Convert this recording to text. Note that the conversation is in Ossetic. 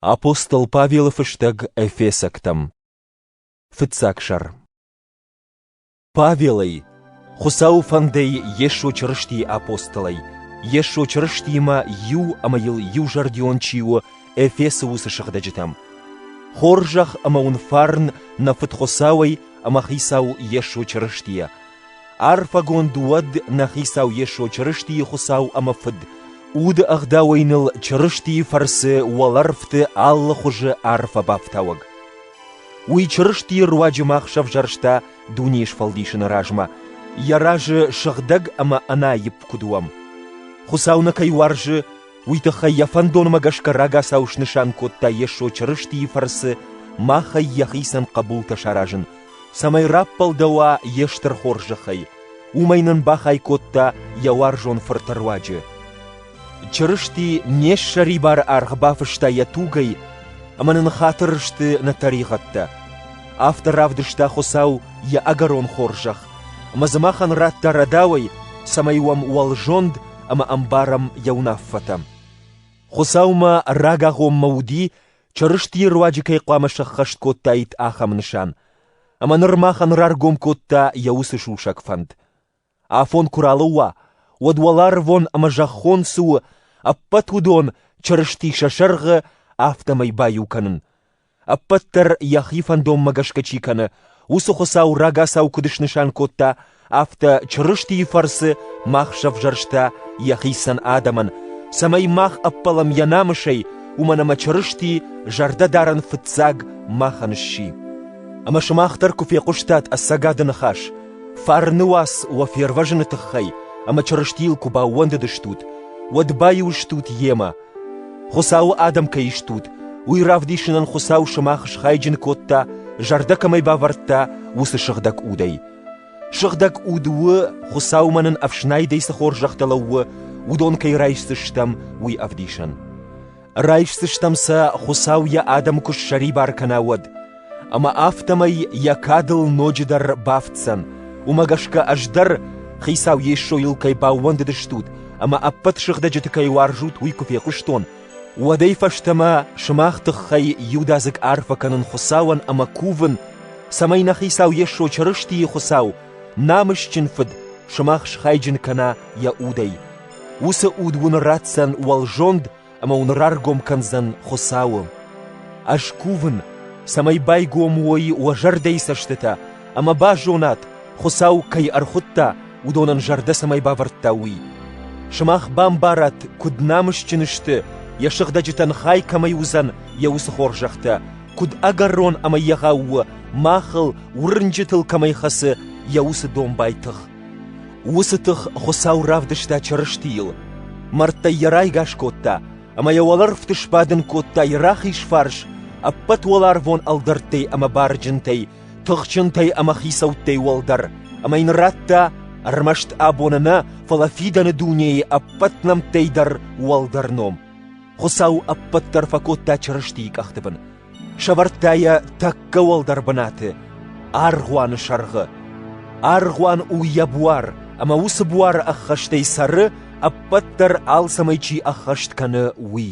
Апостол Павелы фыстӕг эфесӕгтӕм Фыццаг сӕр Павелӕй, Хуыцауы фӕндӕй Йесо Чырыстийы апостолӕй, Йесо Чырыстимӕ иу ӕмӕ йыл иузӕрдион чи у Эфесы уыцы сыгъдӕджытӕм. Хорзӕх ӕмӕ уын фарн нӕ Фыд Хуыцауӕй ӕмӕ Хицау Йесо Чырыстийӕ, Арфӕгонд уӕд нӕ Хицау Йесо Чырыстийы Хуыцау ӕмӕ Фыд, уды ӕгъдауӕй ныл Чырыстийы фӕрцы уӕлӕрвты алы хуызы арфӕ бафтауӕг. Уый Чырыстийы руаджы мах сӕвзӕрста дунейы сфӕлдисыны размӕ, йӕ разы сыгъдӕг ӕмӕ ӕнаипп куыд уӕм. Хуыцау нӕ кӕй уарзы, Уый тыххӕй йӕ фӕндонмӕ гӕсгӕ рагацау снысан кодта Йесо Чырыстийы фӕрцы махӕй йӕхицӕн хъӕбултӕ саразын, цӕмӕй раппӕлдӕуа йе стыр хорзӕхӕй, уымӕй нын бахай кодта йӕ уарзон Фырты руаджы. Чырысти не ссӕрибары аргъ бафыста йӕ тугӕй, ӕмӕ нын хатыр сты нӕ тӕригъӕдтӕ. Афтӕ равдыста Хуыцау йӕ ӕгӕрон хорзӕх, ӕмӕ дзы махӕн радта рӕдауӕй, цӕмӕй уӕм уӕлзонд ӕмӕ ӕмбарӕм йӕ уынаффӕтӕ. Хуыцаумӕ рагагъоммӕ уыди, Чырыстийы руаджы кӕй хъуамӕ сӕххӕст кодтаид ахӕм нысан, ӕмӕ ныр махӕн раргом кодта йӕ уыцы сусӕг фӕнд. Афон куы ралӕууа, уӕд уӕларвон ӕмӕ зӕххон цы у, ӕппӕт уыдон Чырысти сӕ сӕргъы афтӕмӕй баиу кӕнын, ӕппӕт дӕр йӕхи фӕндонмӕ гӕсгӕ чи кӕны, уыцы Хуыцау рагацау куыд снысан кодта, афтӕ Чырыстийы фӕрцы мах сӕвзӕрста йӕхицӕн адӕмӕн, цӕмӕй мах ӕппӕлӕм йӕ намысӕй, уымӕн ӕмӕ Чырысти зӕрдӕдарӕн фыццаг махӕн сси. Ӕмӕ сымах дӕр куы фехъуыстат ӕцӕгады ныхас, фарны уац уӕ фервӕзыны тыххӕй ӕмӕ Чырыстийыл куы баууӕндыдыстут, уӕд баиу стут Йемӕ, Хуыцауы адӕм кӕй стут, уый равдисынӕн Хуыцау сымах схайджын кодта, зӕрдӕ кӕмӕй бавӕрдта, уыцы сыгъдӕг удӕй. Сыгъдӕг уд у, Хуыцаумӕ нын ӕфснайдӕй цы хорзӕхтӕ лӕууы, уыдон кӕй райсдзыстӕм, уый ӕвдисӕн. Райсдзыстӕм сӕ, Хуыцау йӕ адӕм куы ссӕрибар кӕна, уӕд. Ӕмӕ афтӕмӕй йӕ кадыл ноджыдӕр бафтдзӕн, уымӕ гӕсгӕ ӕз дӕр, Хицау Йесойыл кӕй баууӕндыдыстут ӕмӕ ӕппӕт сыгъдӕджыты кӕй уарзут, уый куы фехъуыстон, уӕдӕй фӕстӕмӕ сымах тыххӕй иудадзыг арфӕ кӕнын Хуыцауӕн ӕмӕ кувын, цӕмӕй нӕ Хицау Йесо Чырыстийы Хуыцау, намысджын Фыд, сымах схайджын кӕна йӕ удӕй. Уыцы уд уын ратдзӕн уӕлзонд ӕмӕ уын раргом кӕндзӕн Хуыцауы. Ӕз кувын, цӕмӕй байгом уой уӕ зӕрдӕйы цӕстытӕ ӕмӕ базонат, Хуыцау кӕй ӕрхуыдта, уыдонӕн зӕрдӕ цӕмӕй бавӕрдта, уый. Сымах бамбарат, куыд намысджын сты, йӕ сыгъдӕджытӕн хай кӕмӕй уыдзӕн, йӕ уыцы хорзӕхтӕ, куыд ӕгӕрон ӕмӕ егъау у, махыл, уырнджытыл кӕмӕй хӕцы йӕ уыцы домбай тых. Уыцы тых Хуыцау равдыста Чырыстийыл, мӕрдтӕй йӕ райгас кодта ӕмӕ йӕ уӕлӕрвты сбадын кодта йӕ рахиз фарс ӕппӕт уӕларвон ӕлдӕрттӕй ӕмӕ барджынтӕй, тыхджынтӕй ӕмӕ хицӕуттӕй уӕлдӕр, ӕмӕ йын радта ӕрмӕст абоны нӕ, фӕлӕ фидӕны дунейы ӕппӕт нӕмттӕй дӕр уӕлдӕр ном. Хуыцау ӕппӕт дӕр фӕкодта Чырыстийы къӕхты бын, Сӕвӕрдта йӕ тӕккӕ уӕлдӕр бынаты, аргъуаны сӕргъы. Аргъуан у йӕ буар, ӕмӕ уыцы буары ӕххӕстӕй цӕры, ӕппӕт дӕр алцӕмӕй чи ӕххӕст кӕны, уый.